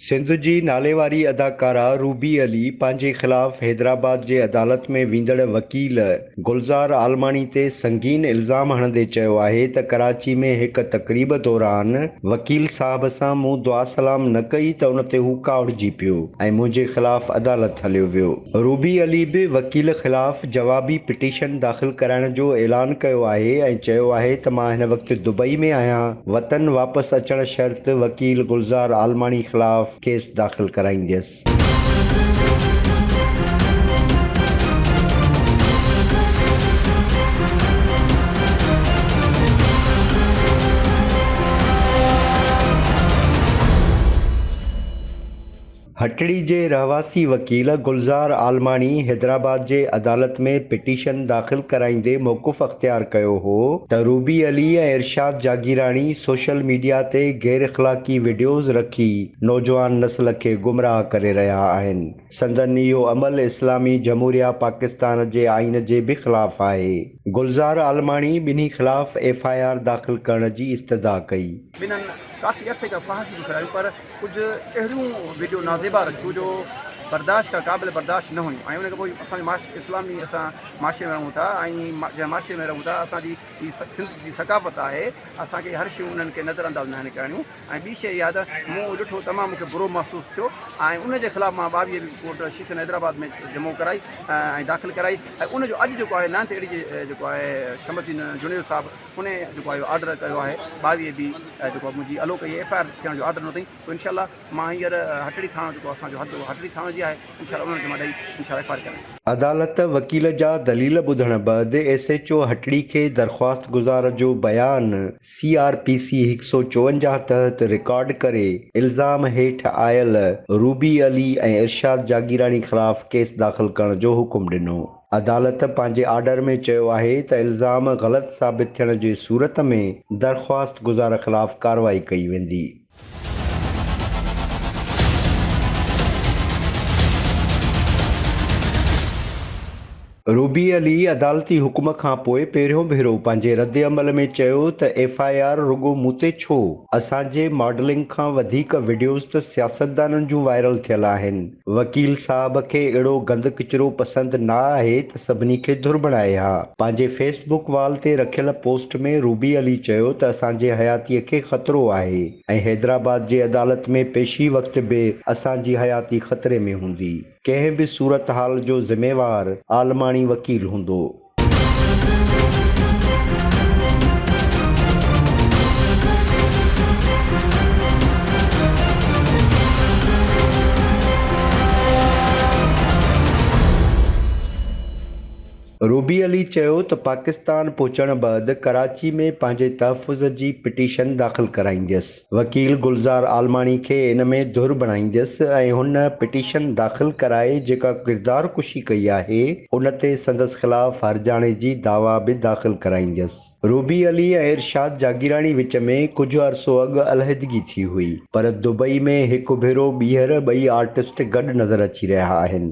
سنڌ جي ناليواري اداڪارا روبي علي پنهنجي خلاف حيدرآباد جي عدالت ۾ ويندڙ وڪيل گلزار عالماڻي تي سنگين الزام هڻندي چيو آهي ته ڪراچي ۾ هڪ تقريب دوران وڪيل صاحب سان مون دعا سلام نه ڪئي ته ان تي هو ڪاوڙجي پيو ۽ منهنجي خلاف عدالت هليو ويو. روبي علي به وڪيل خلاف جوابي پٽيشن داخل ڪرائڻ جو اعلان ڪيو آهي ۽ چيو آهي ته مان هن وقت دبئي ۾ آهيان، وطن واپس اچڻ شرط وڪيل گلزار عالماڻي خلاف ڪيس داخل ڪرائينديس. هٽڙي جي رهواسي وڪيل گلزار عالماڻي حيدرآباد جي عدالت ۾ پٽيشن داخل ڪرائيندي موقف اختيار ڪيو هو ته روبي علي ۽ ارشاد جاگيراڻي سوشل ميڊيا تي غيراخلاقي وڊيوز رکي نوجوان نسل کي گمراهه ڪري رهيا آهن. سندن اهو عمل اسلامي جمهوريه پاڪستان جي آئين جي به خلاف آهي. گلزار عالماڻي ٻنهي خلاف ايف آء آر داخل ڪرڻ جي استدعا ڪئي. ٻنهن ڪافي عرصي کان فحاشيون به ڦهلايون پر ڪجهه اهڙيون وڊيو نازيبا رکيون جو برداشت کان قابل برداشت نه هيون ۽ ان کان پوء اسان جو معاشري اسلامي اسان معاشري ۾ رهون ٿا ۽ جنهن معاشري ۾ رهون ٿا اسان جي هي سنڌ جي ثقافت آهي اسان کي هر شيون انهن کي نظر انداز ناهن ڪرڻيون. ۽ ٻي شيء اها ته مون اهو ڏٺو تمام مون کي برو محسوس ٿيو ۽ ان جي خلاف مان ٻاويهه رپورٽ ڪورٽ سيشن حيدرآباد ۾ جمع ڪرائي ۽ داخل ڪرائي ۽ ان جو اڄ جيڪو آهي نائنٿ اي ڊي جي جيڪو آهي شمس الدين جوڻيجو صاحب ان جيڪو آهي اهو آرڊر ڪيو آهي ٻاويهه بي جيڪو منهنجي الو ڪئي ايف آء آر ٿيڻ جو آرڊر ڏنو اٿئي سو انشاء الله مان هينئر هٽڙي ٿاڻو جيڪو اسان جو حد هٽڙي ٿاڻو جي آهي انشاء الله انهن کي مان ڏئي انشاء الله ايف آء آر ڪيان. عدالت وڪيل جا دليل ٻڌڻ بعد ايس ايڇ او هٽڙي کي درخواست گذار جو بيان سي آر پي سي هڪ سؤ چوونجاهه تحت رڪارڊ ڪري الزام هيٺ آيل روبي علي ۽ ارشاد جاگيراڻي خلاف ڪيس داخل ڪرڻ جو حڪم ڏنو. عدالت پنهنجي آرڊر ۾ چيو آهي ته الزام غلط ثابت ٿيڻ جي صورت ۾ درخواست گذار خلاف ڪارروائي ڪئي ويندي. روبي علي عدالتي حڪم کانپوء پهريون ڀيرو پنهنجي ردعمل ۾ چيو ته ايف آء آر رڳو مون تي ڇو؟ اسان جي ماڊلنگ کان وڌيڪ وڊيوز ته سياستدانن جون وائرل ٿيل آهن. وڪيل صاحب کي اھڙو گند ڪچرو پسند نه آھي ته سڀني کي ڌر بڻائي ھا. پنھنجي فيس بڪ وال تي رکيل پوسٽ ۾ روبي علي چيو ته اسان جي حياتي کي خطرو آھي ۽ حيدرآباد جي عدالت ۾ پيشي وقت به اسان جي حياتي خطري ۾ ھوندي. ڪنھن به صورتحال جو ذميوار عالماڻي وڪيل ھوندو. روبي علي چيو ته پاڪستان پهچڻ بعد ڪراچي ۾ پنهنجي تحفظ جي پٽيشن داخل ڪرائينديس. وڪيل گلزار عالماڻي کي ان ۾ ڌر بڻائينديس ۽ هن پٽيشن داخل ڪرائي جيڪا ڪردار ڪشي ڪئي آهي ان تي سندس خلاف هرجاڻي جي دعويٰ به داخل ڪرائينديس. روبي علي ۽ ارشاد جاگيراڻي وچ ۾ ڪجهه عرصو اڳ علحدگي ٿي هئي پر دبئي ۾ هڪ ڀيرو ٻيهر ٻئي آرٽسٽ گڏ نظر اچي رهيا آهن.